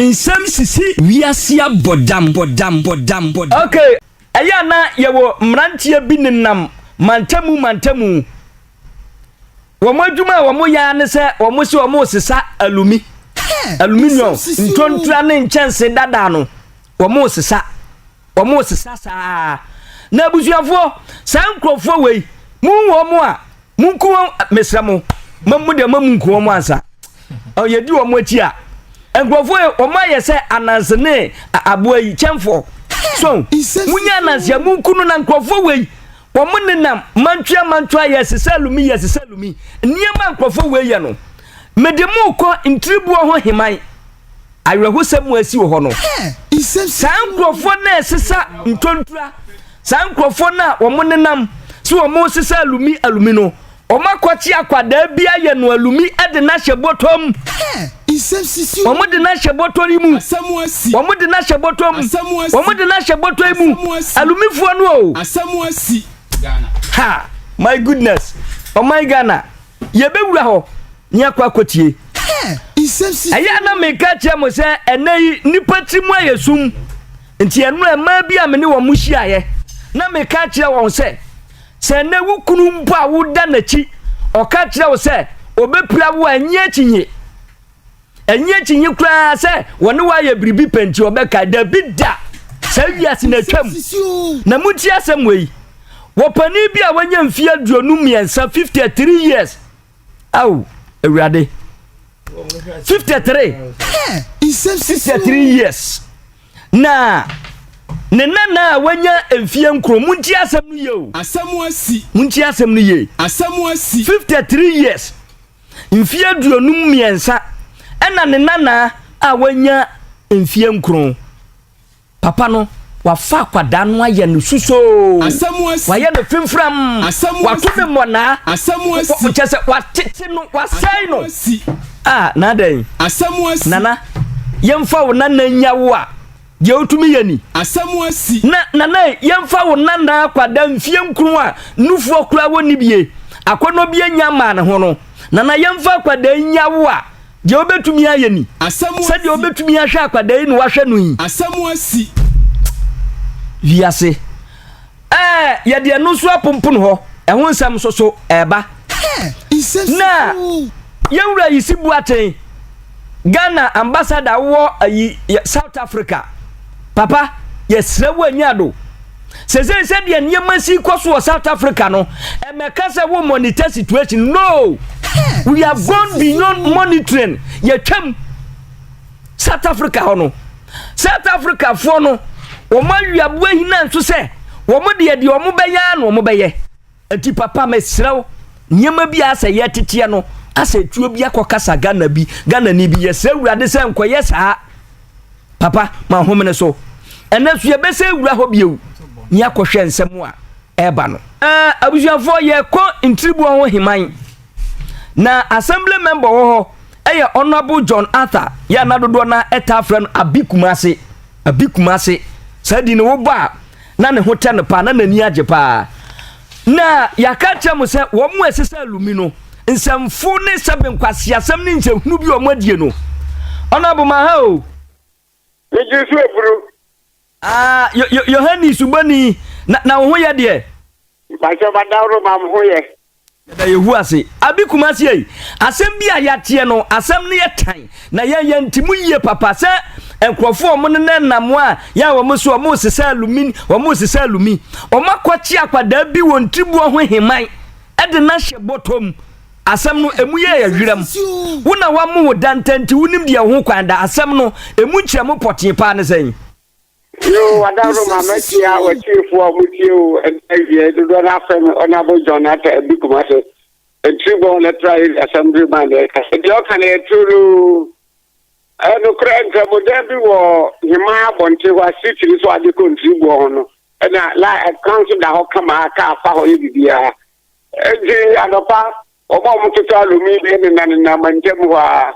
nsɛm sisi wiase abɔdam bɔdam bɔdam bɔdam. ok ɛyɛ a na yɛwɔ mmeranteɛ bi nenam mantamu mantamu wɔn adwuma a wɔyɛ ara ne sɛ wɔn se wɔn resesa alumi aluminium ntontura ne nkyɛnse dada no wɔn resesa wɔn sesa saa na abusuafoɔ saa nkurɔfoɔ wei mu wɔn a mu nku wɔn mesra mo ma mu deɛ ma mu nku wɔn ansa ɔyɛ di wɔn akyi a nkurɔfoɔ yi wɔn ayɛ sɛ ananse ne aboa yi kyɛnfoɔ so mu nyɛ ananse a mu nku no na nkurɔfoɔ wei wɔn nenam mantwea mantwea yɛ sisa lumi yɛ sisa lumi nneɛma nkurɔfoɔ wei yɛ no mede mu kɔ ntiribuo ho heman. awerɛhosɛm mu asi wɔ hɔ no. Saa nkurɔfoɔ no a ɛsesa ntwontura, saa nkurɔfoɔ no a wɔn nenam so wɔn resesa alumi alumi no, wɔn akɔkye akwadaa bi ayɛ no alumi de no ahyɛ bɔtɔ mu. Wɔn de no ahyɛ bɔtɔ yi mu. Wɔn de no ahyɛ bɔtɔ mu. Wɔn de no ahyɛ bɔtɔ yi mu. Alumifoɔ no o. Ha, my goodness, ɔman oh Ghana. Yɛbɛwura hɔ na yɛakɔ akɔtie. Ɛyɛ a na meka kyerɛ mo sɛ ɛnɛ yi nnipa tiri mu ayɛ sum. Nti ɛno a mmaa bi a me ne wɔn hyiaeɛ na meka kyerɛ wɔn sɛ, sɛ ɛnɛ wo kunu mpo a woda n'akyi, ɔka kyerɛ wo sɛ ɔbɛpira wo a, nnye akyinnye. Ɛnyɛ akyinnye koraa sɛ wɔne wo ayɛ biribi pɛ nti wɔbɛkae. Dabi da! Saa wiase no atwam. Na muntie asɛm wei. Wɔ panin bi a wanya mfeɛ aduonu mmiɛnsa, 53 years. Ao, Awurade. 53. 53 years. Na ne nana a wanya mfeɛ nkron. Muntie asɛm no yie o. Asɛm asi. Muntie asɛm no yie. Asɛm asi. 53 years. mfeɛ aduonum mmiɛnsa ɛna ne nanaa a wanya mfeɛ nkron. Papa no wafa akwadaa no ayɛ no susoo, wayɛ no fimfram, wato ne mmɔnaa, kyɛ sɛ watete no, wasɛe no. Ah, na adɛn? Nana, yɛmfa wo nana nya wo a, Deɛ wotumi yɛ ni. Asɛm asi. Na nana yi, yɛmfa wo nana akwadaa mfie nkron a nufoɔ koraa wɔnni bie, akɔnnɔ bi annya mmaa ne ho no, nana yɛmfa akwadaa yi nya wo a, deɛ wobɛtumi ayɛ ni. Asɛm asi. Sɛdeɛ wobɛtumi ahwɛ akwadaa yi na woahwɛ no yi. Asɛm asi. Wiase. Ɛɛ, yɛde ɛno nso aponpon hɔ. Ɛho nsɛm nso so ɛreba. Na yɛn wura Yisi Boateng, Ghana ambassador wɔ ayi South Africa. Papa, yɛsrɛ wo anya ado. Sese sɛ deɛ nneɛma si kɔ so wɔ South Africa no, ɛmɛka sɛ wo monitor situation. No, we have gone beyond monitoring. Yɛtwam. south africa hɔ no south africafoɔ no wɔn awiaboa hina nso sɛ wɔn deɛ deɛ wɔn bɛyɛ ara na wɔn bɛyɛ nti papa mesrɛ wo nneɛma bi a sɛ yɛteteɛ no asɛ tuo bi akɔ kasa ghana bi ghana ni bi yɛsrɛ awurade sɛ nkɔyɛ saa papa ma homene so ɛnɛ so yɛbɛsɛ awura hɔ bio ne akɔhwɛ nsɛm a ɛreba no eh, abusuafoɔ yɛkɔ ntiribuo ho heman na assembly member wɔ hɔ Ɛyɛ Honourable John Arthur yɛ a na dodoɔ no ara taa frɛ no Abi Kumase, Abi Kumase. Saa din no wobɔ a na ne ho tɛ no paa, na n'ani agye paa. Na yɛaka akyerɛ mo sɛ wɔn a ɛsesa alumi no, nsɛmfo ne sɛbe nkwaseasɛm ne nsɛnhunu bi a wɔn adie no, Honourable ma ha o. Megye so aburo. Aa yo yo Yohane subɔni na na wo ho yɛ deɛ. Mpakyɛ ma daworo ma mo ho yɛ. Yɛda Yehu ase. Abi Kumasi ei, asɛm bi a yɛateɛ no, asɛm no yɛ tan, na yɛn yɛnte mu yie papa sɛ nkurɔfoɔ a wɔnenɛ nnam a yɛn a wɔn so a wɔresesa alumi, wɔresesa alumi, wɔakɔkye akwadaa bi wɔ Ntriboɔ ho Heman de no ahyɛ bɔtɔ mu. Asɛm no, emu yɛ yɛ hweram. Wo na wɔamo wo da ntɛ nti wonim deɛ ɛho kwan da. Asɛm no, emu nkyerɛmu pɔtee paa ne sɛn? Yo, wadaworo ma makyia watiefoɔ a motie o ɛda awiɛ dodoɔ no afɛ me Honourable John Atta Abi Kumase Ntiribɔn Electoral Area Assembly man na ɛkasa deɛ ɔka no yɛ turo no ɛyɛ nokorɛ nkramodan bi wɔ Hemaa abɔnten hɔ a street no so ade kɔ Ntiriboɔ ho no ɛna la kwan so da hɔ kama a kaa fa hɔ yɛ biribiara Enti anɔpa, wɔn a wɔtotɔ alumi bi nenanenam ntam hɔ ara,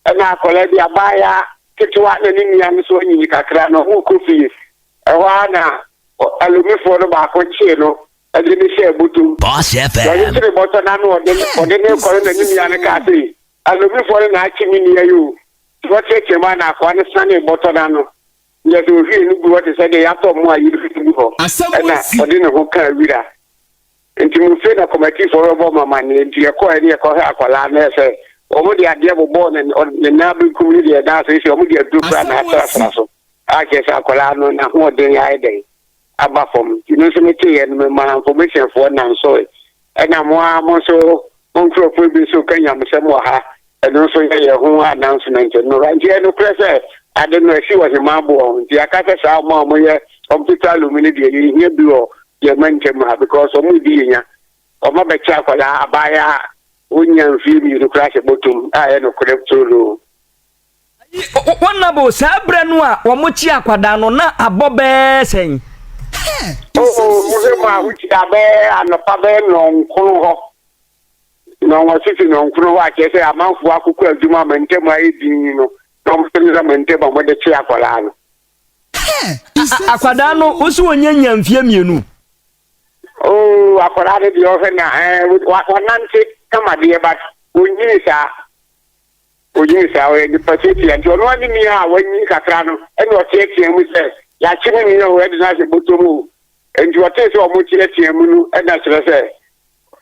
ɛnna akwadaa bi, abaayewa ketewa na ne nua no nso anyinyin kakra no, wɔrekɔ fie. Ɛhɔ ara na alumifoɔ no baako kyee no de no hyɛɛ bɔtɔ mu. Boss FM. Wɔde kyeree bɔtɔ no ano a wɔde wɔde no rekɔ no na ne nua no kaa sɛ, Alumifoɔ no na akye me nua yi o! Nti wɔteateaam ara na akoa no sianee bɔtɔ no ano, na yɛde ohwiee no guu hɔ te sɛ deɛ yɛatɔ mmoa a yɛrefi no gu hɔ, ɛnna ɔde ne ho kaa wira. Nti Mofie na kɔmatifoɔ rebɔ mo amaneɛ nti yɛkɔɔɛ ne yɛkɔhwɛɛ akwadaa no ɛsɛ wɔn de adeɛ bobɔɔ ne ne nan benkum ne deɛ na seisei wɔn de aduro koraa na asrasra so a kyerɛ sɛ akwadaa no n'ahoɔden ayɛ dɛn aba fam nti me nso meteeɛ no memaa nfomehyɛnfoɔ nansoe ɛna mo ara mo nso mo nkorɔfoɔ bi nso reka nyamesɛm wɔ ha Ɛno nso yɛ yɛn ho announcement no. Nti ɛyɛ nokorɛ sɛ ade no asi ɔhemaa boɔ ho. Nti yɛaka sɛ saa wɔn a wɔyɛ computer alum no deɛ yɛnhia bi wɔ yɛn mantam ha because wɔn redi yɛn nya. Wɔn abɛkyɛ akwadaa, abaayaa a wɔnnya mfeɛ mmienu koraa ahyɛ bɔtom a ɛyɛ nokorɛ toloo. Ayi honourable saa berɛ no a wɔkye akwadaa no na abɔ bɛɛ sɛn? Oh oh, mohwɛ mu a wokyia bɛɛ anɔpa bɛɛ nnɔnkron hɔ. na wɔasisi no nkono hɔ akyerɛ sɛ amanfoɔ akokɔ adwuma ama ntam ayɛ dinn no na wɔde no ama ntam a wɔde kye akwadaa no. Akwadaa no wosi wɔnyɛ nya mfie mmienu. Oo akwadaa no deɛ ɔhwɛ na ɛɛ wɔnante kama deɛ ba onyini saa onyini saa ɔyɛ nipa tiatia nti ɔno ani ni a wɔanyi kakra no ɛna ɔteatea mu sɛ yɛakye me nua o ɛde no ahyɛ bɔtɔ mu o nti ɔtee sɛ wɔn teatea mu no ɛna kyerɛ sɛ.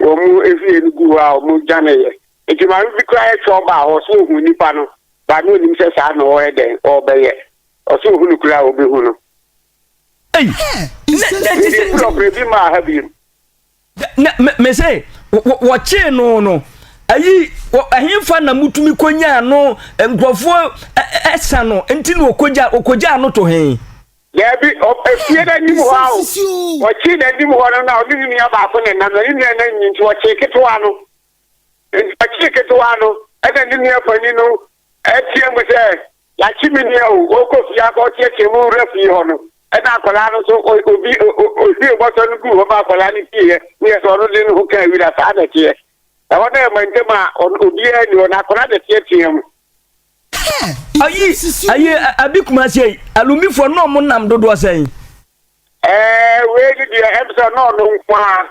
Wɔn fie no gu hɔ a wɔdwaneeɛ. Enti maame bi koraa yɛ twɔɔ baa hɔ, ɔse ɔhuu nipa no, but na ɔnim sɛ saa na ɔyɛ dɛn, ɔrebɛyɛ. Ɔse ɔhu no koraa a, ɔbɛhu no. Ei! Nɛ ɛte sɛ. Mede prɔprɛ bi maa ha biom. Nɛ me, mese, wɔkyee no no, ayi, wɔ, ɛhefa na motumi kɔnyaa no, nkurɔfoɔ ɛsa no, nti na wɔkɔgyaa, wɔkɔgyaa no to he? Daabi, ofie no anim hɔ ara o. Wɔkyee n'anim hɔ no na ɔne ne nua baako na ɛnam, na ne nua no anyin nti wɔkyee ketewa no. Enti wɔkyee ketewa no, ɛnna ne nua panin no teaam sɛ, Yɛakye me nua o, ɔrekɔ fie akɔteɛteɛ mo wura fie hɔ no. Ɛnna akwadaa no nso, obi ohwiee bɔtɔ no guu hɔ ma akwadaa no pieeɛ, ne yɛ sɛ ɔno de ne ho kaa wira. Saa na ɛteɛ. Ɛhɔ no yɛ mantam a obiara nni hɔ, na akwadaa no teateaam. Ayi, ayi, abi kumasi yi, alumifoɔ no ɔmo nam dodoɔ sɛn? Ɛɛ, wei ni deɛ, ɛbisa na ɔno nko a.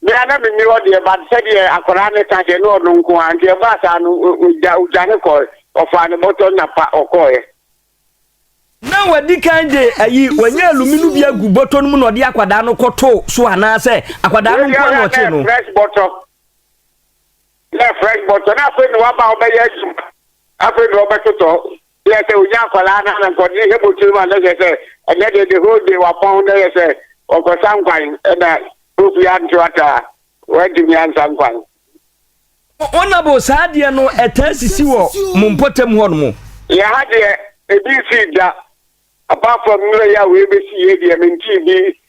Mɛ ana mi ni hɔ deɛ, ba sɛ deɛ akwadaa ne ka deɛ na ɔno nko a, nti ɛbaa saa no, ɔgya, ɔgya ne kɔɛ, ɔfaa ne bɔtɔ na pa ɔkɔɛ. Na wadi kan de ayi, wanya alumi no bi agu bɔtɔ no mu na ɔde akwadaa no kɔto so anaasɛ akwadaa no nko a na ɔkye no? Fresh bɔtɔ. yɛ fresh bɔtɔ na afei na waba ɔbɛyɛ adwuma afei na ɔbɛtotɔ yɛ sɛ onya akwadaa na na nkɔde hɛ bɔtɔ mu a na yɛ sɛ ɛnɛ de the whole day wapɔn na yɛ sɛ ɔkɔsa nkwan ɛna ofi anto ataa wɔatumi ansa nkwan. Honourable saa adeɛ no ɛtaa sisi wɔ mo mpɔtam hɔ nom? Yɛ ha deɛ ebi nsii da apart from mmerɛ yi a wei bɛsi yɛ deɛ mentee bi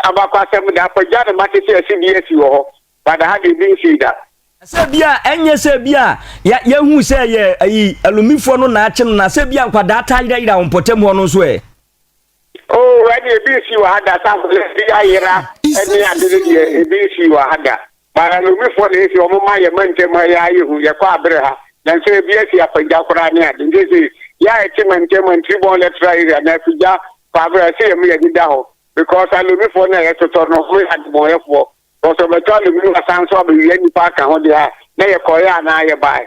abakɔasɛm da apagya na mate sɛ asi bi asi wɔ hɔ Dada ha deɛ obi nsii da. Sɛ ebia ɛnyɛ sɛ ebia yɛahu sɛ yɛ ayi alumifoɔ no na akye no na sɛ ebia nkwadaa taa yerayera wɔn mpɔtam hɔ no nso ɛ. Oh ɛne ebi nsii wɔ ha da sɛ akwadaa bi ayera ɛne ade no deɛ ebi nsii wɔ ha da but alumifoɔ na esi wɔn ma yɛ ma ntam ha yɛ ayɛ hu yɛkɔ abere ha na nso ebi asi apagya koraa ne ade nti esi yɛ a ɛte ma ntam ha ntiribɔn lɛtra area na afigya kɔ abere ɛsɛ yɛ mo yɛ deda hɔ because alumifoɔ na yɛtotɔ no wɔn yɛ adebɔnyɛfoɔ Because ɔbɛtɔ ne bere wasan nso abɛwia nnipa aka ho deɛ a na yɛkɔeɛ anaa yɛbaeɛ.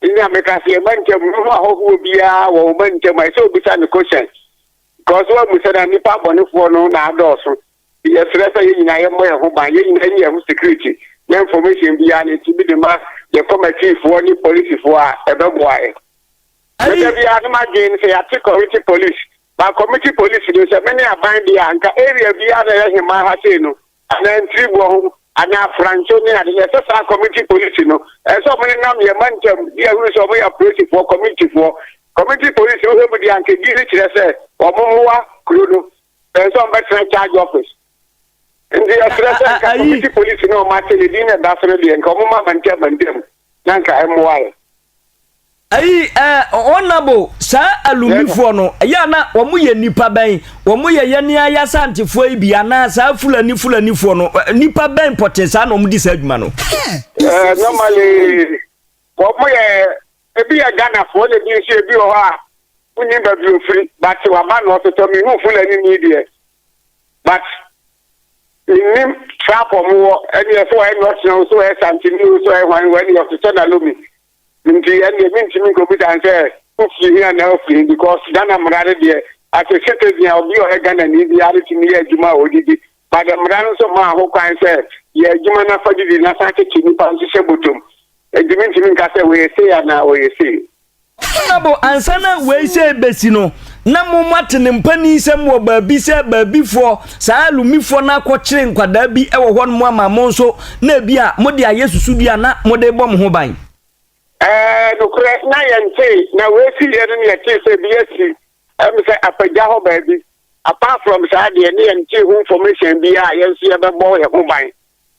Nti na meka sɛ yɛn mantam no ho ahɔhoɔ biara wɔ wo mantam a ɛsɛ obisa no question. Because woamu sɛ na nnipa abɔnefoɔ no na adɔɔso. Nti yɛsrɛ sɛ yɛn nyinaa yɛmmɔ yɛn ho ban, yɛn nyinaa yɛnyɛ yɛn ho security na information biara no yɛtumi de ma yɛn kɔmatifoɔ ne polisifoɔ a ɛbɛboa yɛn. Me da biara no m'adwene ne sɛ yɛate kɔmiti polisi, but kɔmiti polisi no sɛ me ne aban deɛ a nka area biara na ɛyɛ hemmaa ha sei no anaa mfiriboɔ ho anaa franso ne ade no, ɛsɛ saa kɔmiti polisi no, ɛsɛ sɛ wɔn nenam yɛn mantam de ahunu sɛ wɔn yɛ apolisifoɔ, kɔmitifoɔ, kɔmiti polisi no hwɛ mu de anka din no kyerɛ sɛ wɔn mmoa kuro no, ɛsɛ sɛ wɔn bɛtena charge office. Nti yɛsrɛ sɛ nka kɔmiti polisi no wɔn akyɛ yɛ din na ɛda so no deɛ nka wɔn ma mantam mantam. na nka ɛmmoae. Ayi eh, honourable, saa Alumbifoɔ no, ɛyɛ a na wɔn yɛ nnipa bɛn? Wɔn yɛ yɛn ara y'Asantefoɔ yi bi anaa saa Fulani Fulanifoɔ no, eh, nnipa bɛn pɔtee saa na wɔn di saa adwuma no? Eh, normally, wɔn yɛ, ebi yɛ Ghanafoɔ na ebi nso ebi wɔ hɔ a, wonnim baabi ofiri, but waba na ɔtotɔ, mehu Fulani ni deɛ, but menim trap ɔmo wɔ ɛneɛ sɛ wɔyɛ nɔtena o sɛ wɔyɛ santini o sɛ wɔyɛ hwan o ɛneɛ ɔsesɛ na lomi nti ɛneɛ mentumi nkɔbu dan sɛ wofie hia na ofie because Ghana mmara no deɛ as a citizen a obi ɔyɛ Ghana ni biara no tumi yɛ adwuma a ɔdidi but mmara no nso maa ho kwan sɛ yɛ adwuma no afa didi na san tete nipa nso hyɛ botom ɛdi mentumi nka sɛ wɔyɛ sei anaa wɔyɛ sei Honourable ansa na wei sɛ ɛbɛsi no na mo moate ne mpaninsɛm wɔ baabi sɛ baabifoɔ saa alumifoɔ no akɔkyere nkwadaa bi wɔ hɔ nom ama mo nso na ebi a mode ayɛ susudua a na mode bɔ mo ho ban. Ɛɛ, nokorɛ na yɛntee, na wei siiɛ no na yɛtee sɛ bi asi, ɛyɛ me sɛ Apagya hɔ baabi, apart from saa deɛ ne yɛntee ho information biara a yɛn nso yɛbɛbɔ yɛn ho ban.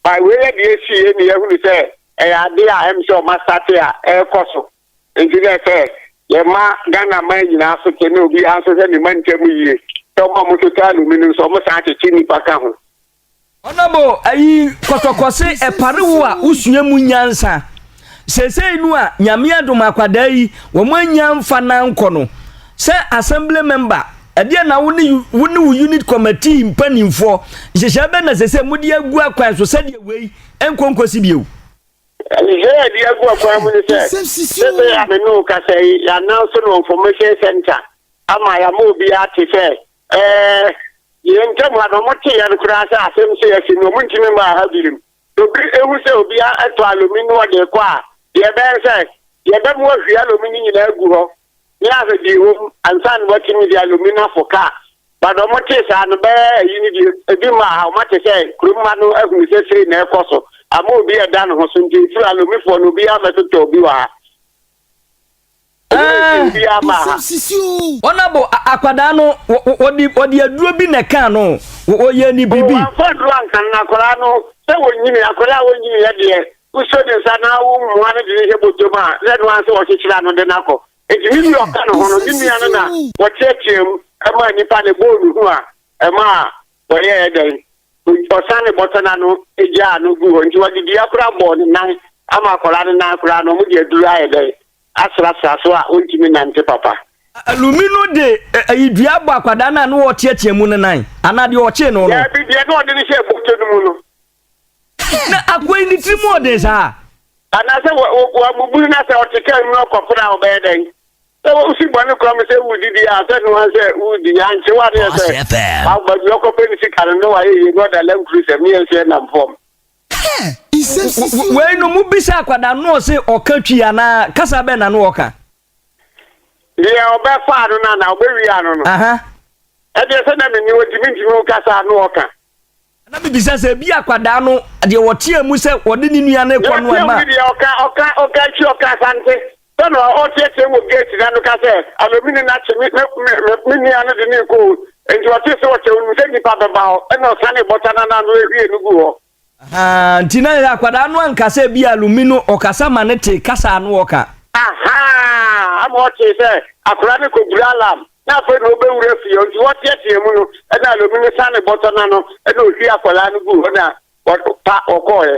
By wei yɛ deɛ ɛsi yɛ ni yɛhunu sɛ ɛyɛ adeɛ a ɛm sɛ ɔma sate a ɛɛkɔ so nti na ɛsɛ yɛ ma Ghana man nyinaa so te ne obi ara nso hwɛ ne ma ntɛm yie sɛ ɔma ɔmo so taa alumi no nso ɔmo san kyekye nipa ka ho. Honourable ayi kɔtɔkɔse ɛpare wo a wo sua mu nyansa. Seesei no a Nyame adom akwadaa yi wɔn annya mfa no ankɔ no, sɛ assembly member, ɛdeɛ na wo ne wo ne wo unit committee mpanimfoɔ nhyehyɛe bɛn na sɛsɛ mode agu akwan so sɛdeɛ wei ɛnkɔ nkɔsi bio? Nhyehyɛe a ɛde agu akwan mu ne sɛ sɛsɛ a me ne wo kasa yi yɛananso no information center ama yɛama obiara te sɛ ɛɛ yɛn ntam ha no wɔte yɛn koraa sɛ asɛm sɛ asi no wɔntumi mmaa ha birim. Obi hu sɛ obi atɔ alɔmi na ɔde rekɔ a, deɛ ɛbɛyɛ ne sɛ, deɛ ɛba mu ahwie alɔmi no nyinaa agu hɔ na ahwɛ deɛ ɛwɔ mu ansa na watumi de alɔmi no afɔ kaa. But wɔtee saa no, bɛyɛ ayi no deɛ, ebi mmaa ha, wɔate sɛ kurom ha no ahunu sɛ sei na ɛrekɔ so ama obi ɛda ne ho so nti, nti alɔmifoɔ no obiara mmɛtotɔ obi wɔ ha. Wɔabɔ akwadaa no, wɔde aduro bi na ɛkaa no, wɔyɛ ne biribi. Wɔamfa aduro ankan akwadaa no sɛ wɔnyini, akwadaa a wɔnyini yɛ deɛ, wosɔ ne nsa na womoa no de no hyɛ bɔtɔ mu a, na ɛno ara sɛ wɔkyekyere ano de no akɔ. Enti ne deɛ ɔka ne ho no, ne nua no na wɔteatea mu maa nnipa no, ɛbɔɔ ne hu a ɛmaa wɔyɛɛ dɛn? Ɔsan ne bɔtɔ no ano gyaa no guu hɔ. Nti wɔde dua koraa bɔɔ ne nan ama akwadaa no nan koraa no, wɔde aduro ayɛ dɛn? asrasra so a ontumi nnante papa. Alumi no de ayidua bɔ akwadaa no a na ɔreteatea mu no nan, anaa deɛ ɔkyee no no. Daabi, deɛ na ɔde no hyɛɛ bɔtɔ no mu no. Na akoa yi ne tiri mu ɔden saa. Anaasɛ wɔabubu no na sɛ ɔte kaa mu na ɔkɔpere a, ɔbɛyɛ dɛn? Sɛ wosi bɔne kura mu sɛ wodidi a, sɛ noa sɛ wodi, ankye wo adeɛ sɛ baabi ɔkɔpɛ ne sika no na wayɛ yie na ɔda lankuru sɛ meɛnso yɛnam fam. Wei no mo bisa akwadaa no ɔse ɔka twi anaa kasa bɛn na no ɔka. Deɛ ɔbɛfa ano no anaa ɔbɛwie ano no. Ɛdeɛ sɛ na menni hɔ nti mentumi wo kasa no ɔka. Na mebisa sɛ bi akwadaa no deɛ ɔteɛ mu sɛ ɔde ne nua no kɔ no ɛma. Ɔka ɔka ɔka twi ɔka asante. Sɛ na ɔreteɛteɛm wɔ gate no ano ka sɛ, Alo, me nena kye me, me, me, me, me nua no de no rekɔ o. Enti ɔtee sɛ wɔkyɛ, onim sɛ nnipa bɛba hɔ, ɛnna ɔsanee bɔta no anan no hwiee no guu hɔ. Ahaa, nti na akwadaa no anka sɛ ebia Alumi no ɔkasa ma no tee kasa a na ɔka. Ahaa, ama ɔtee sɛ akwadaa no rekɔduru alarm, na afei na ɔrebɛwura fie hɔ, nti wɔteɛteɛm no, ɛnna Alumi no sanee bɔtɔ no ano, ɛnna ɔhwiee akwadaa no guu hɔ na wɔpa, wɔkɔeɛ.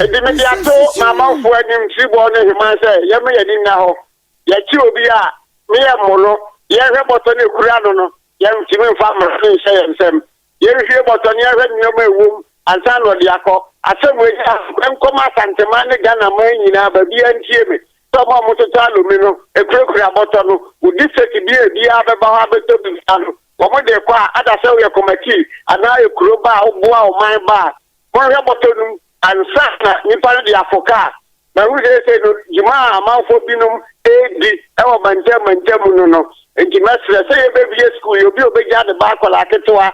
Enti mede ato m'amanfoɔ anim Tiriboɔ ne Heman sɛ yɛmma yɛn ani nna hɔ. Yɛkye obi a, ne yɛn mo no, yɛnhwɛ bɔtɔ no a ɛkura no no, yɛntumi mfa mmara no nhyɛ yɛn nsam. Yɛnhwie bɔtɔ no, yɛnhwɛ nneɛma a ɛwom ansa na ɔde akɔ. Asɛm wei yɛ anokwa. Nkɔma Asanteman ne Ghana man nyinaa, baabiara ntie me, sɛ wɔn a wɔtotɔ alumi no kurakura bɔtɔ no, wo district bi a obiara bɛba hɔ abɛtɔ bi biara no, wɔde rekɔ a, ada sɛ woyɛ kɔmatii anaa ekuro ba a woboa ɔman ba a, Kɔhwɛ bɔtɔ no mu. Ansaana nnipa no de afoka a mahu seesei no dwuma a amanfoɔ binom redi wɔ mantam mantam mu no no nti, mɛsrɛ sɛ yɛbɛbue sukuu yi. Obi a ɔbɛgyaa ne ba akwadaa ketewa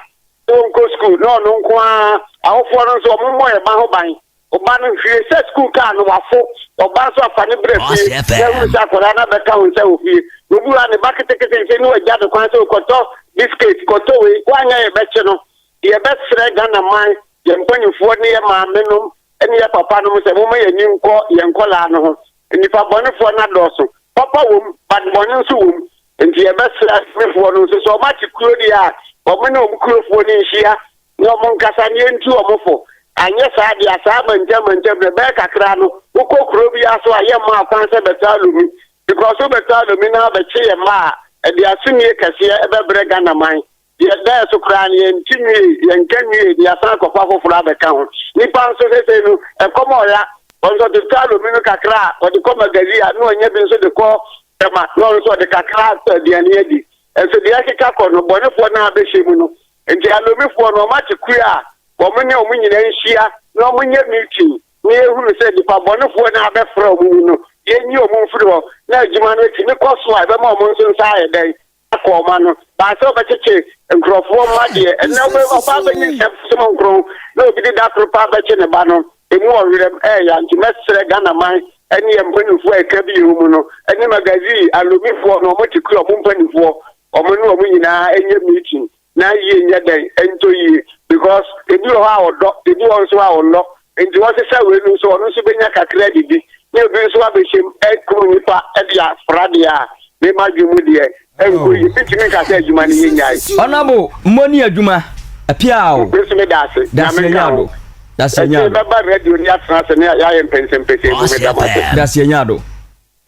sɛ ɔnkɔ sukuu na ɔno nko ara, awofoɔ no nso wɔmmɔ yɛn ba ho ban. Wo ba no, hwie sɛ sukuu kaa no, wafo. Wo ba nso a, fa no bra fie na hunu sɛ akwadaa no abɛka wo nsa wɔ fie. Obi wɔ ha, ne ba ketekete nti na wagya no kwan sɛ ɔkɔtɔ biskit, kɔtɔ wei, woanyɛ a yɛbɛkye no. Yɛbɛsrɛ Ghana man, yɛn mpaninfoɔ ne yɛn maame nom ne yɛn papa nom sɛ momma yɛn ani nkɔ yɛn nkwadaa no ho. Nnipa bɔnefoɔ no adɔɔso. Papa wɔ mu but bɔne nso wɔ mu. Nti yɛbɛsrɛ asomefoɔ no nso sɛ wɔate kuro deɛ a wɔn ne wɔn kurofoɔ no nhyia na wɔn nkasa na yɛntu wɔn fo. Anyɛ saa deɛ a saa mantam mantam no ɛbɛyɛ kakra no wokɔ kuro biara so a yɛmma akwan sɛ bɛtaa Lumi because wobɛtaa Lumi na abɛkye yɛn mma a ɛde asonie kɛseɛ ɛbɛbrɛ Ghana man. Deɛ ɛdɛɛ so koraa no, yɛnte nwiei, yɛnka nwiei na yɛasan akɔfa foforɔ abɛka ho. Nnipa nso, seesei no, ɛkɔm a ɔya wɔn nso, ɔde tɔ alumi no kakra a ɔde kɔ Magalie a, na ɔnya bi nso de kɔ Tema na ɔno nso ɔde kakra atɔ aduane adi. Nso deɛ ɛkeka kɔ no, bɔnefoɔ no ara bɛhyɛ mu no. Enti Alomifoɔ no, wɔate kuo a wɔn ne wɔn nyinaa nhyia na wɔnyɛ meeting na yɛhunu sɛ nnipa bɔnefoɔ no ara bɛfra wɔn mu no, yɛnyi wɔn mfiri hɔ na adwuma no atumi kɔ so a, ɛbɛma wɔn nso nsa ayɛ dɛn? akɔ ɔma no baa sɛ ɔbɛkyekye nkurɔfoɔ mma deɛ ɛnna wobɛba ɔba bɛyi nsɛm som nkron na obi de da koro paa bɛkye ne ba no ɛmu ɔwerɛm ɛɛya nti mɛsrɛ Ghana man ɛne yɛn mpanimfoɔ a ɛka bi yɛ mu no ɛne magazine alomifoɔ no ɔmo te kura ɔmo mpanimfoɔ ɔmo ne ɔmo nyinaa ɛnyɛ meeting na yie nyɛ dɛn ɛntɔ yie because ebi wɔ hɔ a ɔdɔ ebi wɔ hɔ nso a ɔnnɔ nti wɔsesa wei no nso ɔno nso bɛnya kakra didi na ebi nso abɛhyɛm ɛkuru nipa ɛde afra deɛ a mema adwene mu deɛ ɛnkɔ yie bɛtumi nka sɛ adwuma no yɛnyae Ɔnabo mmɔ ni adwuma apiao. Nso me da ase. Dase Nyame nka ho. Dase Ɛsɛ nyado. bɛba radio ni atena ase ne yɛayɛ mpɛnsɛmpɛsɛ mu me da mo ase. Dase nyado.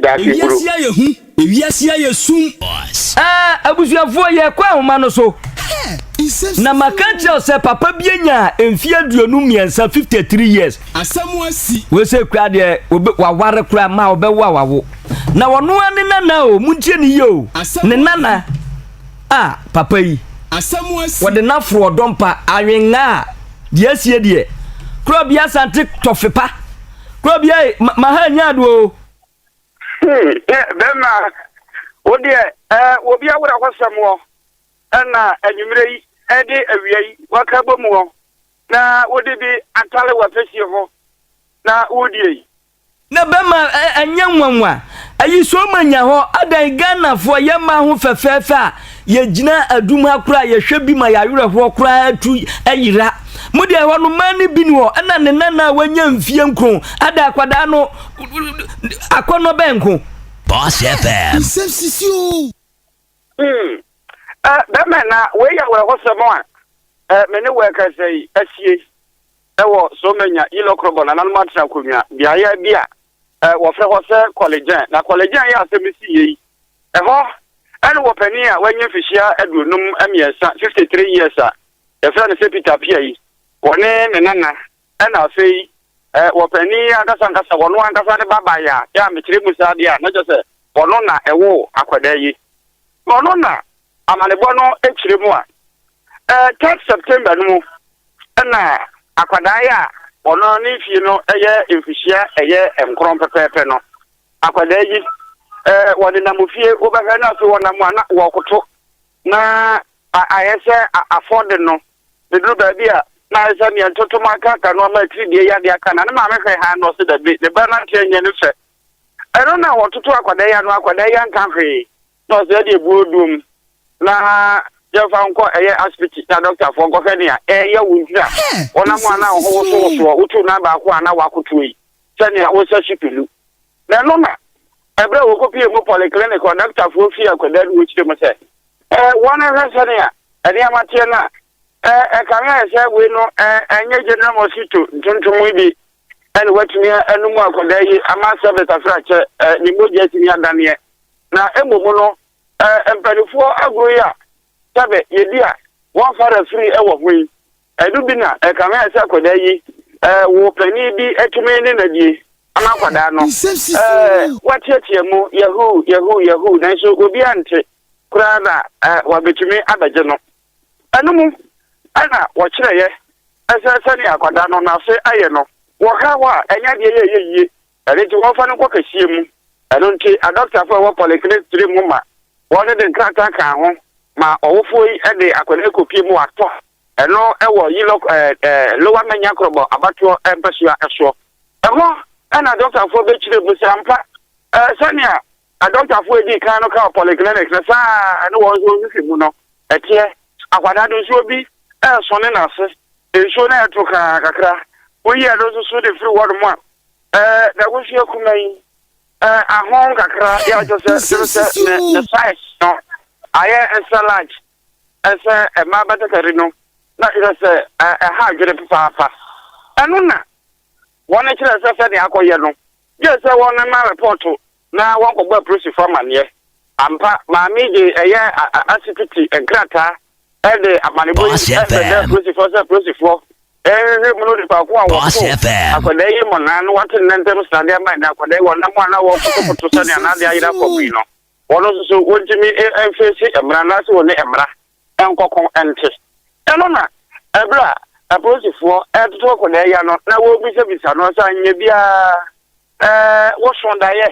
Daase bro. Ewiase ayɛ hu, ewiase ayɛ sum. Aa abusuafoɔ yɛkɔ ahoma no so na maka akyerɛ wo sɛ papa bi anya mfeɛ aduonu mmiɛnsa 53 years wei sei koraa deɛ obe waware koraa ma ɔbɛwo a wawo na ɔno ara ne nana o montie ne yie o ne nana a papa yi wɔde no aforo ɔdɔmpa awenga a deɛ asie deɛ korɔ bi asante tɔfepa Kuro bia yi ma ma ha nya do o. Hmm, ne bɛrima wo deɛ ɛɛ obi awura hɔ sɛm wɔ ɛna anwummerɛ yi ɛde awia yi waka bɔ mu hɔ na wode bi atale w'afɛsie ho na wodie yi. Ne bɛrima ɛnyɛ nwanwa. Ayi so ma nya hɔ adan Ghanafoɔ yɛ mmaa ho fɛfɛɛfɛ a Yɛgyina adum ha koraa a, yɛhwɛ bi ma yɛawerɛhoɔ koraa tu yera. Mo deɛ ɛhɔ no mmaa no bi ni hɔ ɛna ne nana a wanya mfie nkron ada akwadaa no akɔnnɔ bɛn nko. Boss FM. Nsɛm sisi o. Hmm. Eh, bɛmɛ na wei yɛ awerɛhosɛm a eh, me ne wo ɛkasa yi asie. wɔ Somanya, Illokrobor, nananom atra akonnwa, beaeɛ bi a wɔfrɛ hɔ sɛ Kɔlegyen. Na Kɔlegyen yɛ asɛm si yɛ yi. Ɛhɔ ɛne wɔ panin a wanya mfihyia aduonum mmiɛnsa, 53 years a yɛfrɛ no sɛ Peter Pia yi, wɔne ne nana ɛna afei wɔ panin ankasa ankasa wɔno ankasa ne baba yɛ a, yɛ a mekyerɛ mu saa deɛ a, na kyɛ sɛ wɔno na ɛwoo akwadaa yi. Wɔno na Amanebɔ no ekyirɛ mu a, ɛɛ third September no mu na akwadaa yi a ɔno ne mfie no yɛ mfihyia ɛyɛ nkron pɛpɛɛpɛ no, akwadaa yi ɛɛ wɔde nam ofie wobɛhwɛ na afei wɔnam a na wɔkoto na ayɛ sɛ afɔde no ɛduru baabi a na ayɛ sɛ neɛ ntotom aka aka no ama atiridie yadeɛ aka na ne maame hwɛ ha na ɔse dabi ne ba no ateɛ nyɛ ne fɛ ɛno na wɔtoto akwadaa yi ano akwadaa yi anka hwee na ɔsɛ yɛde abu odum na yɛmfa nkɔ ɛyɛ asipiti na dɔktafoɔ nkɔhwɛ nea ɛreyɛ wo nti a wɔnam a na wo ho wosowosoɔ wotu nan baako a na woakotoɔ yi sɛnea wosɛ si pelu na ɛno na ɛberɛ a wɔkɔpie mu polyclinic hɔ dɔktafoɔ fie akwadaa no wɔkyerɛ mu sɛ wɔnhwɛ sɛnea nneɛma teɛ no a ɛkame ayɛ sɛ wei no ɛnyɛ general mosquito ntontom bi ɛna watumi anom akwadaa yi ama service asrakyɛ ɛɛ ne mogya atumi adaneɛ na mmom no ɛɛ mpanimfoɔ agorɔ yi a sɛbɛ yɛdi a wɔnfa refiri ɛwɔ ho yi ɛno bi na ɛka ho ɛsɛ akwadaa yi ɛɛ wɔ panin bi atumi ne nadie ama akwadaa no ɛɛ watiatia mu yahoo yahoo yahoo nanso obiara nte koraa na ɛɛ wabɛtumi abɛgye no. Ɛno mu na wɔkyerɛeɛ sɛ sɛdeɛ akwadaa no n'ase ayɛ no, wɔka hɔ a, ɛnyɛ adeɛ yɛ ɛyɛ yie. Ɛno nti wɔmfa no nkɔ kɛseɛ mu. Ɛno nti adɔkotafo a ɛwɔ polyclinic tiri mu ma wɔde de nkrataa kaa ho ma ɔwofoɔ yi de akwadaa yi kɔpie mu watɔ ɛno wɔ Yilok ɛɛ ɛɛ Lower Manya Krobo abatoɔ mpasua soɔ. Ɛhɔ na adɔkotafo bɛkyerɛ mu sɛ ampa ɛɛ sɛnea Adɔktafoɔ a ɛdii kan no kaa polyclinics no saa ara a ɛne wɔn nso nsisi mu no teɛ. Akwadaa no nsuo bi reso ne n'ase, nsuo no reto kaa kakra. Woyi ɛno nso so de firi hɔnom a, n'ahosuo kumaa yi, ahon kakra yɛ a kyerɛ sɛ kyerɛ sɛ ne ne size no ayɛ nsɛ large ɛsɛ mmaa batakari no na kyerɛ sɛ ɛha adwene papaapa. Ɛno na wɔn kyerɛ sɛ sɛdeɛ akɔyɛ no gye sɛ wɔmema repɔɔto na wɔkɔbɔ apolisifo amanneɛ. Ampa, Maame Jay yɛɛ asipiti nkrataa de amanebɔ yi bɛdaa apolisifo sɛ apolisifo nhwehwɛ mu no nipa ko a wɔtoo akwadaa yi mmonnaa no wɔate ne nan ntam srade ama ɛnɛ akwadaa yi wɔnam a na wɔkotokoto sɛnea n'ade ayera fam yi no wɔn nso so wɔntumi mfeesi mmara anaasɛ wɔne mmara nkɔko nte. Ɛno na ɛberɛ a apolisifoɔ retoto akwadaa yi ano na wɔrebisabisa no sɛ anyɛ biara ɛɛ woso daeɛ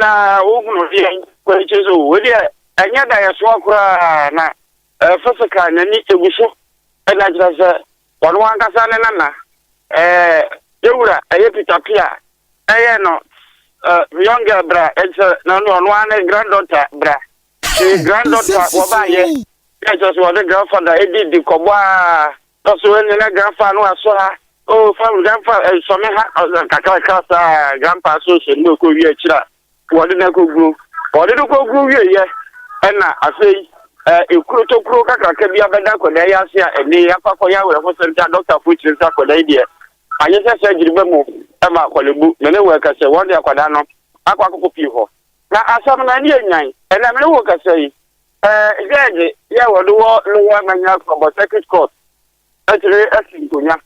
na wohunu deɛ kɔ akyire sɛ wei deɛ ɛnyɛ daeɛsoɔ koraa na ɛɛ physical n'ani egu so ɛna kyerɛ sɛ wɔn ankasa ne nana ɛɛ yɛwura ɛyɛ Peter Pia ɛyɛ no ɛɛ young girl bra ɛkyɛ na ɔno ara ne granddaughter bra. Hɛ! Nsɛm foforo o! Dɛ kyerɛ sɛ wɔdze grandfather edi di kɔbɔ aa, dɛ ɔsɛ woenye na grandfa no asɔ ha, oh fa grandfa sɔ me ha, nkakrankra saa a grandpa so hyɛ no okowie ekyir a wɔdze no kogu, wɔdze no kogu wieeɛ na afei ekuro tokuro kakraka bi abɛda akwadaa yi ase a ɛnde akɔ akɔyɛ awerɛhosɛm dza doctor fo kyerɛ dɛ akwadaa yi deɛ anyɛ sɛ surgery bɛma ɔma akɔlebu, na ne wɔ ɛkɛsɛ wɔdze akwadaa no akɔ akɔkɔ pii hɔ. Na asɛm no, ɛne enyan. Ɛnnɛ, me ne wo rekasa yi, eh, gyɛɛgye yi a wɔde wɔ Lower Manyara Korɔbɔ Circuit Court atumi asi nkonnwa.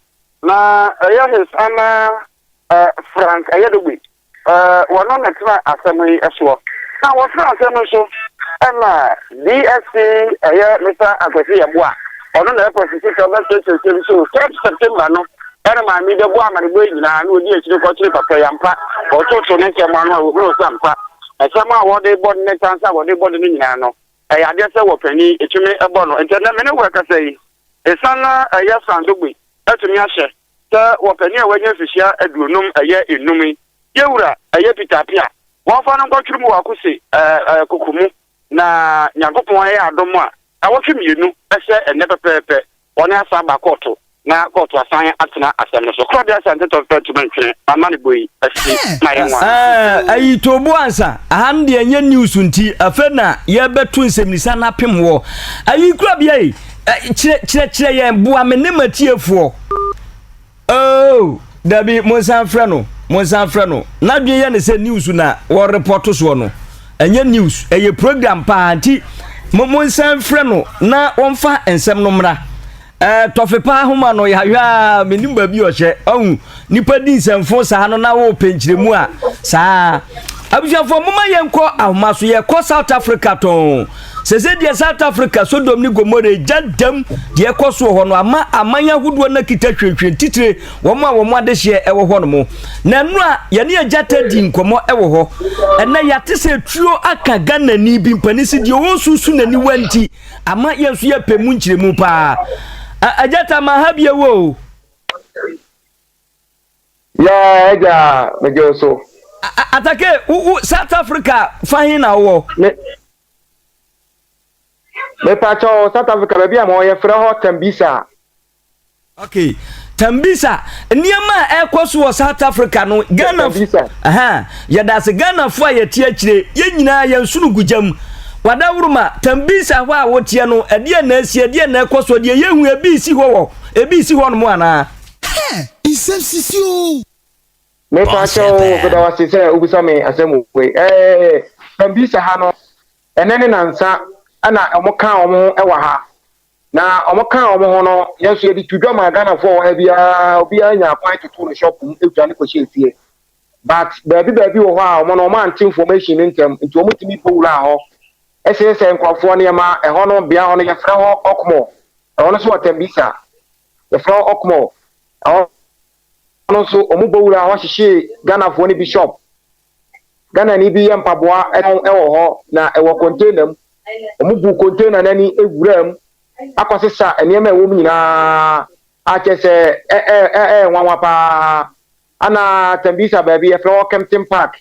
Na ɛyɛ His Honour, eh, Frank Ayadogbe, eh, wɔno na ɛtena asɛm yi soɔ. Na wɔtena asɛm no so ɛna DSP ɛyɛ Mister Akwasi Yeboah, ɔno na ɛyɛ Prosecutor bɛkyerɛkyerɛ nsɛm so, third September no, Ɛnna Maame bɛbɔɔ amanneɛbɔ yi nyinaa, na ɔdii akyire kɔkyeree papa yi. Ampa, wɔtootoo ne nsɛm ano a wɔhunuu sɛ ampa nsɛm a wɔde rebɔ no ne ntansa a wɔde rebɔ no no nyinaa no, ɛyɛ adeɛ sɛ wɔpanin tumi bɔ no. Enti ɛnnɛ me ne wo rekasa yi, ɛsiane na ɛyɛ Sandogbe atumi ahyɛ sɛ wɔpanin a wanya mfirihyia aduonum ɛyɛ nnum yi, Yɛwura ɛyɛ Peter Appiah, wɔmfa no nkɔtwere mu wɔ Akose koko mu. Na Nyankopɔn ayɛ adom a awɔtwe mmienu sɛ ɛnnɛ pɛpɛɛpɛ wɔne asan aba kɔɔto na kɔɔto asan atena asɛm no so. Claudia Asante Tɔnfɛn tumi ntwene m'amanebɔ yi asi ma yɛn nwanwa. Ahh ayi Toobo Ansa aha no deɛ nyɛ news nti afei na yɛbɛto nsɛmnisa no apem wɔ ayi korabea yi? Kyerɛ kyerɛ kyerɛ yɛn boa me ne m'atiefoɔ. Oh, dabi, monsan mfrɛ no, monsan mfrɛ no. N'adwene yɛ ne sɛ news na wɔrepɔto soɔ no. Ɛnyɛ news, ɛyɛ program paa nti monsan mfrɛ no na wɔmfa nsɛm no mmra. Eh, tɔfe paa homa no yɛahwɛ a menim baabi ɔhyɛ ɔhu nipa di nsɛmfo saa no na wɔpɛ nkyerɛmu a saa abusuafoɔ moma yɛnkɔ ahoma so yɛkɔ south africa tɔn Sese deɛ South Africa Sodom ne Gomora egya dam deɛ ɛkɔ so wɔ hɔ no ama aman ahodoɔ no akita hwirehwire titire wɔn a wɔn adehyeɛ ɛwɔ hɔ nom. Na ɛno a yɛne agya ta di nkɔmɔ ɛwɔ hɔ ɛnɛ yɛate sɛ tuo aka Ghanani bi mpanin si deɛ ɔresusu n'aniwa nti ama yɛn nso yɛpɛ mu nkyerɛmu paa. Agya ta ma ha bi ɛwɔ o. Ya agya megye wo so. Atake wo wo South Africa fa he na wowɔ. Me mepakyɛ wo South Africa baabi a ma wɔyɛ frɛ hɔ Tembisa. Okay Tembisa nneɛma a ɛkɔ so wɔ South Africa no Ghana Tembisa. Aha yɛda ase Ghana fo a yɛte akyire yɛn nyinaa yɛn sunu gu gyam. Wadaworoma Tembisa hɔ a woteɛ no ɛdeɛ na asie ɛdeɛ na ɛkɔ so deɛ yɛhu ebi si hɔ wɔ ebi si hɔ nom anaa. Hɛɛ! Nsɛm sisi oo! Me pa kyɛw meda wo ase sɛ wobisa me asɛm wei ɛɛ Sambisa ha no ɛnɛ ne nansa ɛna ɔmo kaa ɔmo ho ɛwɔ ha na ɔmo kaa ɔmo ho no yɛn so yɛde tu dwa maa Ghana foɔ wɔ ha biara obiara nya kwan tutu no shop mu egya ne kɔhyɛ efie but baabi baabi wɔ hɔ a ɔmo no ɔmo ante information no ntɛm nti ɔmo tumi bɔ wuraa hɔ ɛsɛsɛ nkorɔfoɔ nneɛma ɛhɔ no bea hɔ no yɛfrɛ hɔ Okmor ɛhɔ no so wɔ Tembisa yɛfrɛ wɔn Okmo, ɛhɔ no nso wɔn bɔ wura hɔ hyehyee Ghanafoɔ no bishop. Ghanani bi yɛ mpaboa tɔn wɔ hɔ na ɛwɔ container mu. Wɔn buu container no ani wuraa mu akɔsesa nneɛma a ɛwɔ mu nyinaa a kyerɛ sɛ ɛyɛ nwanwa paa. Ana Tembisa baabi yɛfrɛ hɔ Kempton Park,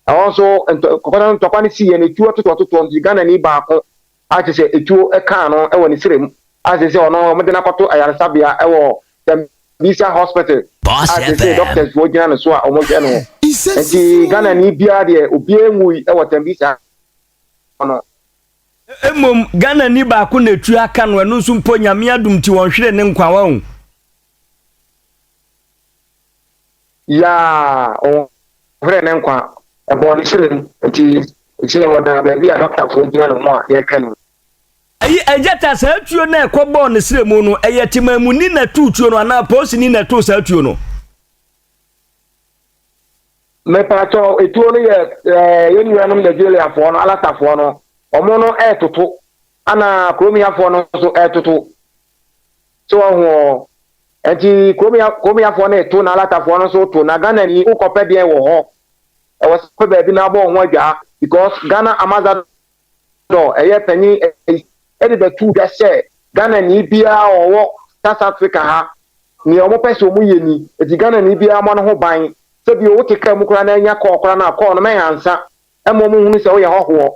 ɛhɔ nso ntɔkwa no siiɛ na etuo atotoatotoɔ nti Ghanani baako Agye sɛ etuo kaa no wɔ ne srɛ mu a seesei ɔno wɔde no akɔto ayaresabea wɔ Dambisa Hospital a seesei doctors foɔ gyina ne so a wɔhwɛ no. Nti Ghanani biara deɛ obiara nwui wɔ Tambisa hɔ no. Mmom Ghanani baako na etuo aka no, ɛno nso mpo Nyame adom nti wɔnhweree ne nkwa, wahu. Yaa, ɔhohorɛɛ ne nkwa. Ɛbɔɔ ne srɛ mu. Enti, seesei ɔda baabi a dɔktafoɔ gyina ne ho a yɛrehwɛ no. Ayi, Agyata, saa tuo no a ɛkɔbɔɔ ne srɛ mu no, ɛyɛ Temamuni na ɛtoo tuo no anaa Polisini na ɛtoo saa tuo no? Mepakyɛw, etuo no yɛ ɛɛ yɛn nuanom Nigeriafoɔ no, Alasafoɔ no. Wɔn no retoto, ɛna Kuromiafoɔ no nso retoto. So wahu ɔ? Ɛnti kuromya kuromyafoɔ no reto na alatafoɔ no nso reto na Ghanani wokɔpɛ deɛn wɔ hɔ? Ɛwɔ sɛ wopɛ baabi na abɔ wo ho adwaa because Ghana Amazadɔ ɛyɛ panyin ɛyi ɛde bɛtu dwa sɛ Ghanani biara a ɔwɔ South Africa ha nea wɔpɛ sɛ wɔn yɛ ni ɛti Ghanani biara mmɔ ne ho ban sɛ bio wote kaa mu koraa na anya call koraa no a call no mɛnhansa ɛma wɔhunu sɛ woyɛ hɔhoɔ.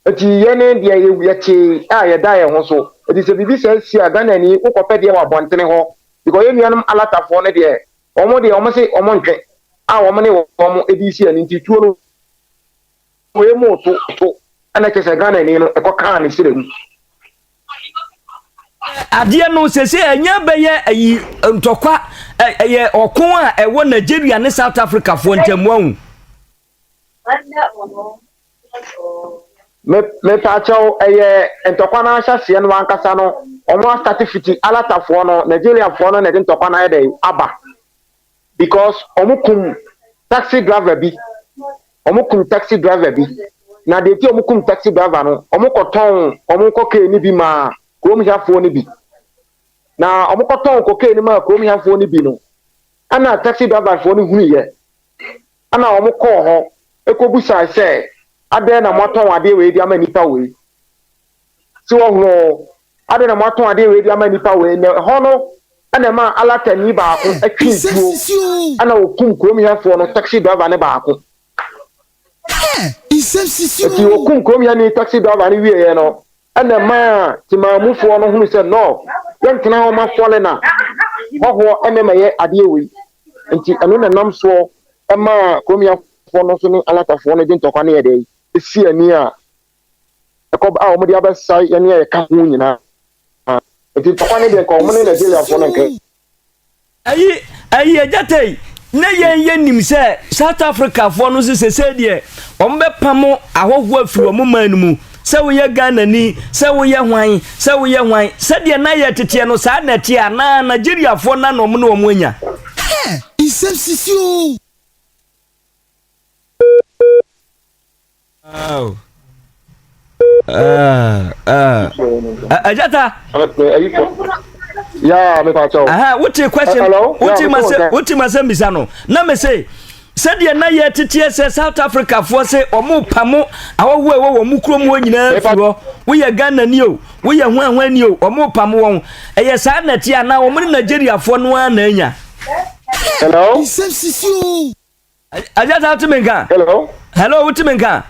Enti yɛne deɛ yɛtee a yɛda yɛn ho so. Enti sɛ biribi saa si a, Ghanani, wokɔpɛ deɛ wɔ abɔntene hɔ, because yɛn nuanom Alatafoɔ no deɛ, wɔn deɛ wɔn se wɔn ntwe, a wɔn ne wɔn de resi ani nti tuo no wɔyɛ mu to to, ɛna kyerɛ sɛ Ghanani no ɛkɔ kaa ne srɛ mu. adeɛ no sese ɛnyɛ bɛyɛ ayi ntɔkwa ɛyɛ ɔko a ɛwɔ nigeria ne south africa foɔ ntɛm wɔn. mepaakyɛw ɛyɛ ntɔkwa no ahyɛseɛ no ankasa no wɔn asate fiti alatafoɔ no nigeriafoɔ no na ɛde ntɔkwa no ayɛ dɛ aba. Because ɔmo kum taxi driver bi ɔmo kum taxi driver bi na deɛ nti ɔmo kum taxi driver no ɔmo kɔ tɔn ɔmo kɔkee no bi maa kurom hiafoɔ no bi na ɔmo kɔ tɔn kɔkee no maa kurom hiafoɔ no bi no ɛna taxi driver foɔ no hunuyɛ ɛna ɔmo kɔɔ hɔ ɛkɔ busae sɛ adɛn na moatɔn adeɛ wei de ama nipa wei. So wahu ɔ? Adɛn na moatɔn adeɛ wei de ama nnipa wei? Na ɛhɔ no na ɛmaa Alatani baako twee tuo na wɔkum kurom hɛfoɔ no taxi driver no baako. Enti wɔkum kurom hɛni taxi driver no wieeɛ no na ɛmaa Temaamufoɔ no hunu sɛ no, yɛntena hɔ ma fɔle na hɔhoɔ ɛnɛ ma yɛ adeɛ wei. Enti ɛno na ɛnam soɔ ɛmaa kurom hɛfoɔ no nso ne Alatafoɔ no de ntɔkwa ne ɛdɛi si ani a ɛkɔm a wɔn de abɛsa yɛn ne ɛka ho nyinaa nti ntɔkwa ne deɛ nka wɔn ne nigeriafoɔ no nka. ayi ayi agyata yi na yɛn yɛ nim sɛ south africafoɔ no nso sese deɛ wɔn bɛpam ahɔhoɔ afiri wɔn man no mu sɛ woyɛ ghana ni sɛ woyɛ hwan sɛ woyɛ hwan sɛdeɛ na yɛ teteɛ no saa na ɛteɛ anaa nigeriafoɔ na na wɔn ne wɔn anya. nsɛm sisi o. Oh. Uh, uh, uh, Ajata. Yeah, me pacho. Aha, what your question? Hello? What you must say? What you must say, Misano? Na me say. sɛdeɛ na yɛ teteɛ sɛ south africa foɔ sɛ ɔmo pa mo awɔhoɔ ɛwɔ wɔn mu kurom hɔ nyinaa fi hɔ woyɛ ghana ni o woyɛ huahua ni o ɔmo pa mo wɔn ɛyɛ saa na ɛte a na wɔn ne nigeria foɔ no ara na anya. hello. Aja sa wuti mi nka? Hello. Hello, wuti mi nka?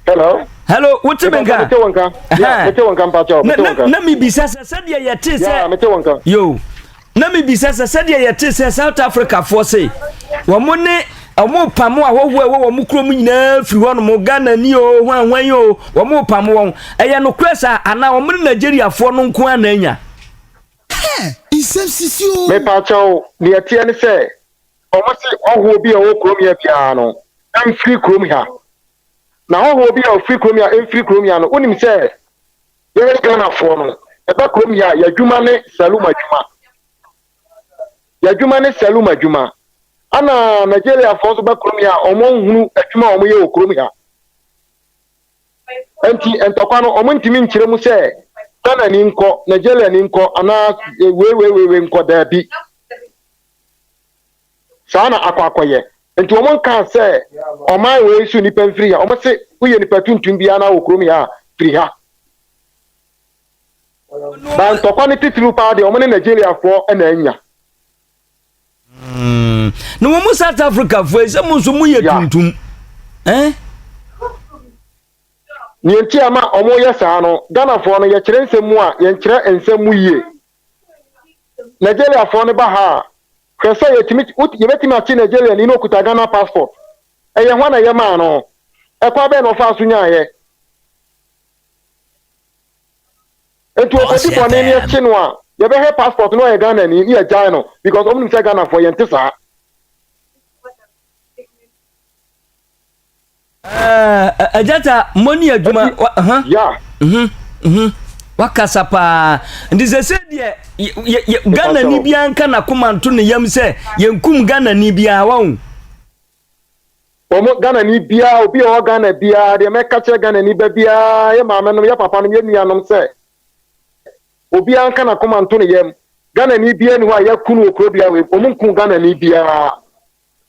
Hello. Hello, wuti mi nka? Mete wo nka. Yeah, mete wo nka mpakyɛw. Mete wo nka. Na mi bisa sɛ sɛdeɛ yɛte sɛ. Yeah, mete wo nka. Yo. Na mi bisa sɛ sɛdeɛ yɛte sɛ South Africa foɔ se wɔn ne wɔn pam ahɔhoɔ a ɛwɔ wɔn kurom nyinaa firi hɔnom ghana ni o hwanhwan yi o wɔn pam wɔn ɛyɛ nokorɛ saa anaa wɔn ne nigeriafoɔ no nko ara na anya. nsɛm sisi o. mepaakyɛw deɛ ɛteɛ ne sɛ Wɔse hɔhoɔ bi a ɔwɔ kurom ha biara no mfiri kurom ha. Na hɔhoɔ bi a ɔfiri kurom ha mfiri kurom ha no, wonim sɛ yɛyɛ Ghanafoɔ no, yɛba kurom ha a, yɛadwuma ne salum adwuma. Yɛadwuma ne salum adwuma. Ana Nigeriafoɔ nso ba kurom ha a, wɔn nhunu adwuma a wɔyɛ wɔ kurom ha. Nti ntɔkwa no, wɔn ntumi nkyerɛ mu sɛ Ghana ni nkɔ, Nigeria ni nkɔ, anaa wei wei wei wei nkɔ daabi. Saa na akɔ akɔyɛ. Nti wɔn nkaa sɛ ɔman wei so nipa mfiri ha. Wɔn se woyɛ nipa tuntum biara na wɔ kurom ha a, firi ha. Ba ntɔkwa no titiriw paa deɛ wɔn ne Nigeriafoɔ na anya. Mm. Na wɔn mu South Africafoɔ yi sɛ mo nso moyɛ tuntum. Eh? Nea nti a ma wɔyɛ saa no, Ghanafoɔ no yɛkyerɛ nsɛm mu a, yɛnkyerɛ nsɛm mu yie. Nigeria foɔ no ba ha a hwɛ sɛ yɛtumi yɛbɛtumi akye Nigeria ni no okuta Ghana passport ɛyɛ hwan na yɛ maa no ɛkɔ abɛn na ɔfaa so nyaayɛ nti ɔkɔdi bɔne ne ɛkye no a yɛbɛhwɛ passport no ɔyɛ Ghana ni ne yɛgyae no because ɔmo nim sɛ Ghana foɔ yɛnte saa Ɛɛ agyata mo ni adwuma ha. Ya. Mhm mhm. Wakasa paa. Nti sɛ sɛ deɛ Ghana ni biara nka na koma nto ne yam sɛ yɛnkum Ghana ni biara wɔn. Wɔn Ghana ni biara obi a ɔwɔ Ghana biara deɛ mɛka kyerɛ Ghana ni ba biara yɛ maame nom yɛ papa nom yɛ nuanom sɛ obiara nka na koma nto ne yam Ghana ni biara ni hɔ a yɛkunu wɔ kuro biara wɔn nku Ghana ni biara.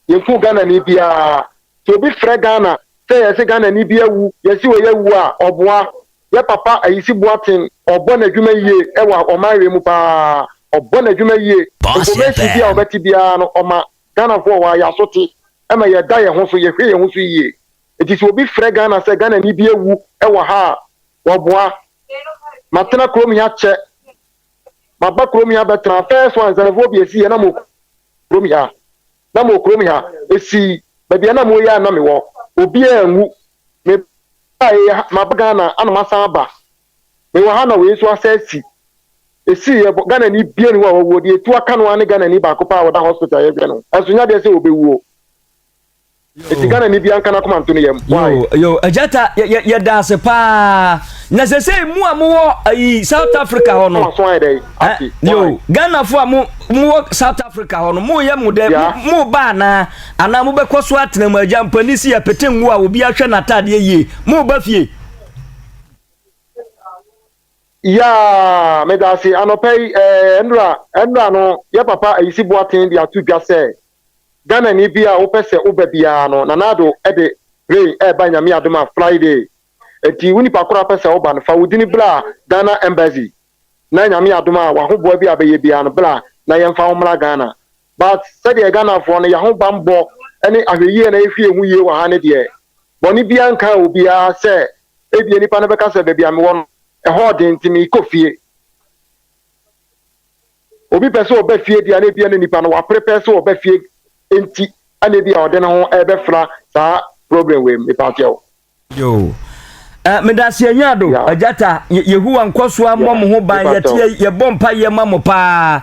yɛnku Ghanani biara. Sɛ obi frɛ Ghana sɛ yɛse Ghanani bi awu, yɛse wei awu a, ɔboa. Yɛ papa Ayisi Boateng, ɔbɔ n'adwuma yie wɔ ɔmanwe mu paa. Ɔbɔ n'adwuma yie. Information bi a ɔbɛte biara no, ɔma Ghanafoɔ. Ɔyɛ aso te ma yɛda yɛn ho so, yɛhwɛ yɛn ho so yie. Enti sɛ obi frɛ Ghana sɛ Ghanani bi awu wɔ ha a, wɔboa. Matena kurom ha kyɛ Maba kurom ha bɛtena. First one, Nsɛmfo Obi Esi yɛ na mowɔ kurom ha. Na mowɔ kurom ha. Esi, baabi a na mowɔ yi ara na mewɔ. Obiara anwu. Mebae ha, maba Ghana na masan aba. Mewɔ ha na wei nso asan asi. Esi, yɛbɔ, Ghanani biara nni hɔ a wawuo. Deɛ ɛtu aka no ara ne Ghanani baako paa a ɔda hospital a yɛhwɛ no. Nanso nyɛ adeɛ sɛ ɔbɛwuo. Eti Ghana ni bi anka n'akoma nto ne yam. Why? Yo, yo, Ajata, yɛ- yɛ- yɛda ase paa na sɛ sɛ mu a mowɔ ayi south africa hɔ no Waso ayɛ dɛ yi. eh, Ate. yo Why? ghanafo a mo- mowɔ south africa hɔ no moyɛ mo dɛ Yeah. mo- moba anaa anaa mobɛkɔ so atena mu agya mpani si yɛpete ngo a obi ahwɛ n'ataadeɛ yie moba fie Yaa, meda ase. Anɔpa yi, eh, Enra, Enra no, yɛ papa Ayisi Boateng de ato dwa sɛ, Ghanani bi a wopɛ sɛ woba biara no, Nana Addo de plane reba Nyame adom a Friday. Enti wo nipa koro a wopɛ sɛ woba no, fa wo dini bra Ghana Embassy na Nyame adom a w'ahoboa bi a bɛyɛ biara no bra na yɛmfa wo mmra Ghana. But sɛdeɛ Ghanafoɔ no y'ahobanbɔ ne ahwɛyie na yɛhwɛ yɛn ho yie wɔ ha no deɛ, bɔne biara nkaa obiara sɛ ebia nipa no bɛka sɛ baabi a mewɔ no ɛhɔ ɔden nti meekɔ fie. Obi pɛ sɛ ɔba fie deɛ na ebia na nipa no wapere pɛɛ sɛ ɔba fie nti ɛna ebia ɔde ne ho ɛbɛfra saa problem wei mu mepa kyɛw. Yoo eh medase anyaado agyata Yehowa nkɔsoa mmɔ mo ho ban yɛte yɛbɔ mpaeɛ ma mo paa.